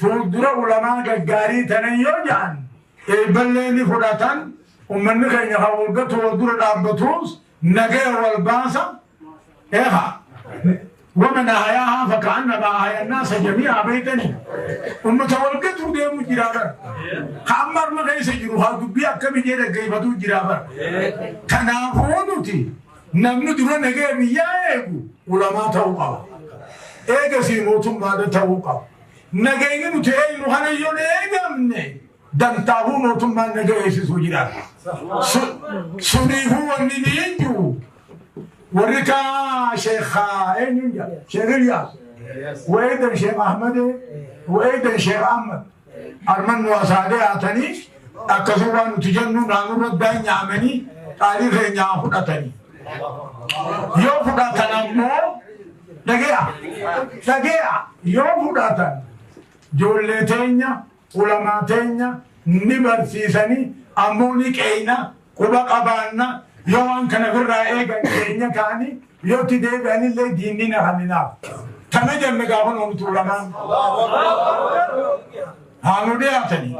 Fuuldura ulamaa gaggaarii tanan yoo ja'an eebballee ni fudhatan, ummanni keenya kan wal gatu wal dura dhaabbatuus nagaya wal baasa. Eeha! Waman ahayaahaa faka'annamaa ahayannaasa jamii'aa beeytanii? Ummata wal gatuu deemu jira bar. Ka amma harma keessa jiru haa dubbii akkamii jee dhaggeeffatuu jira bar. Kanaafuu nuti Namni dura nagaya biyyaa eegu ulamaa ta'uu qaba. Eegasii mootummaadha ta'uu qaba. Nagayni nuti eegnu kana yoo eegamne dantaahuu mootummaan naga eegsisuu jiraata. Suniifuu wanni ni hin jiru. Warri kaa sheekhaa eenyuun jedha? Sheekh Ilyaas. Wayidan Sheekh Ahmadee. Wayidan Sheekh Ahmad. Arman nu asaa deyaatanii akkasuu waan nuti jennuu naanurra daanyaamanii qaalii keenyaa fudhatanii. Yoo fudhatan ammoo dhageya dhageya yoo fudhatan joollee teenya ulamaa teenya ni barsiisanii ammoo ni qeeyna Quba qabaanna, yoo waan kana birraa eegan keenya ta'ani, yoo itti deebi'anillee diinni na haminaaf. Tana janna gaafa nuun tuulamaan. Haa nu dhiyaatani.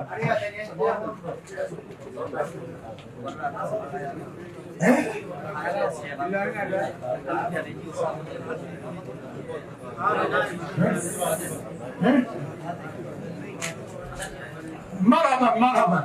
Marhaban, marhaban.